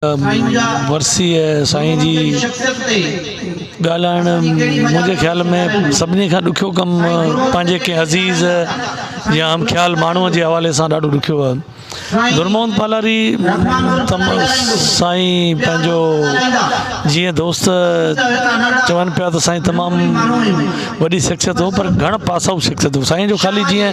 ورسيء سائين جي ڳالهائڻ منهنجي خيال ۾ سڀني کان ڏکيو ڪم پنهنجي ڪنهن عزيز يا هم خيال ماڻهوء جي حوالي سان ڏاڍو ڏکيو هو نور محمد پالاري سائين پنهنجو جيئن دوست چون پيا ته سائين تمام وڏي شخصيت هو پر گهڻ پاسائو شخصيت هو سائين جو خالي جيئن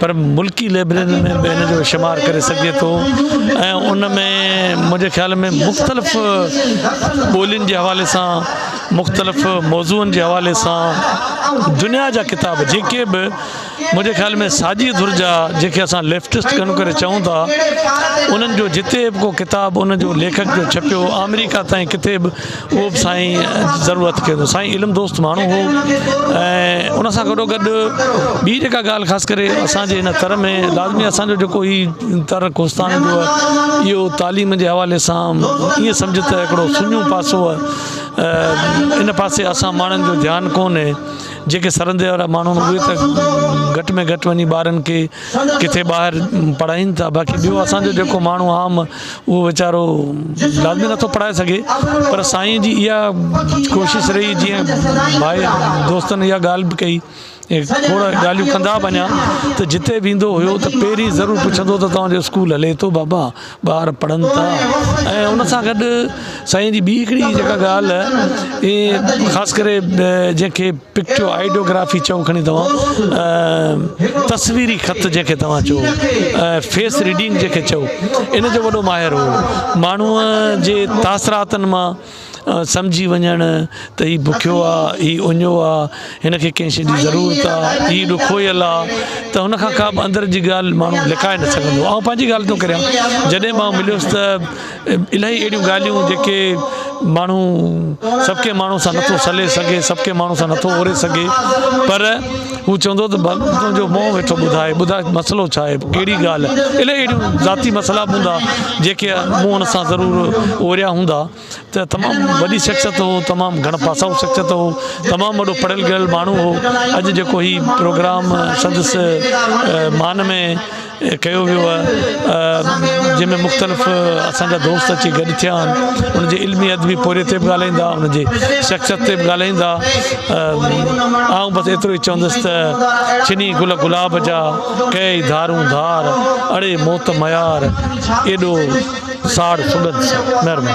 پر ملڪي لئبريرين ۾ به هن جو شمار ڪري سگهجي ٿو ۽ ان ۾ منهنجي خيال ۾ مختلف ٻولين جي حوالي سان مختلف موضوعن جي حوالي سان دنيا جا ڪتاب جيڪي به منهنجي خيال ۾ ساڄي ڌر جا جيڪي اسان ليفٽسٽ گهڻو ڪري چئون ٿا انهن جو جتي به ڪو ڪتاب ان جو ليکڪ جو ڇپيو آمريڪا تائين ڪٿي به اهو به سائين ضرورت ڪيو اٿو سائين علم دوست ماڻهو هو ۽ ان سان گڏو گڏ ٻي جيڪا ڳالهه خاص ڪري اسانجي هن تر ۾ لازمي اسانجو جيڪو هي تر ڪوستان جو آهي اهو تعليم جي حوالي سان ائين سمجهه ته هڪڙو سڃو پاسو آهي ان پاسي اسان ماڻهن جو ڌيان ڪونهي جيڪي سرندي وارا ماڻهو اهي ته گهٽ ۾ گهٽ وڃي ٻارن کي ڪٿي ٻاهر پڙهائين ٿا باقي ٻيو اسانجو جيڪو ماڻهو عام اهو ويچارو لازمي نٿو پڙهائي سگهي پر سائين جي اها ڪوشش رهي جيئن ڀائي دوستن اها ڳالهه به ڪئي کوڙ ڳالهيون ڪندا به اڃا ته جتي به ايندو هيو ته پهرين ضرور پڇندو ته توهان جو اسڪول هلي ٿو بابا ٻار پڙهن ٿا ۽ ان سان گڏ سائين جي ٻي هڪڙي جيڪا ڳالهه اهي خاص ڪري جنهن کي پڪٽو آئيڊيو گرافي چئو کڻي توهان تصويري خط جنهن کي توهان چئو فيس ريڊنگ جنهن کي چئو ان جو وڏو ماهر هو ماڻهو جي تاثراتن مان سمجهي وڃڻ ته هي بکيو آهي هي اڃو آهي هن کي ڪنهن شي جي ضرورت آهي هي ڏکويل آهي ته هن کان ڪابه اندر جي ڳالهه ماڻهو لڪائي نه سگهندو آهي آئون پنهنجي ڳالهه ٿو ڪريان جڏهن به آئون مليس ته الائي اهڙيون ڳالهيون جيڪي ماڻهو سڀ ڪنهن ماڻهو سان نٿو سلي سگهي سڀ ڪنهن ماڻهو سان نٿو اوري سگهي پر هو چوندو ته بس تنهنجو مون ويٺو ٻڌائي ٻڌاء مسئلو ڇا آهي ڪهڙي ڳالهه آهي الائي اهڙيون ذاتي مسئلا به هوندا جيڪي مون ان سان ضرور اوريا هوندا ته تمام وڏي شخصيت هو تمام گهڻ پاسائو شخصيت هو تمام وڏو پڙهيل گهڙيل ماڻهو هو اڄ جيڪو هي پروگرام سندس مان ۾ ڪيو ويو آهي جنهن ۾ مختلف اسان جا دوست اچي گڏ ٿيا آهن انهن جي علمي ادبي پورهيي تي به ڳالهائيندا انهن جي شخصيت تي به ڳالهائيندا آئون بس ايترو ئي چوندس ته چني گل گلاب جا ڪئي ڌارون ڌار اڙي موت ميار ايڏو ساڙ سڳنڌ سان مهرباني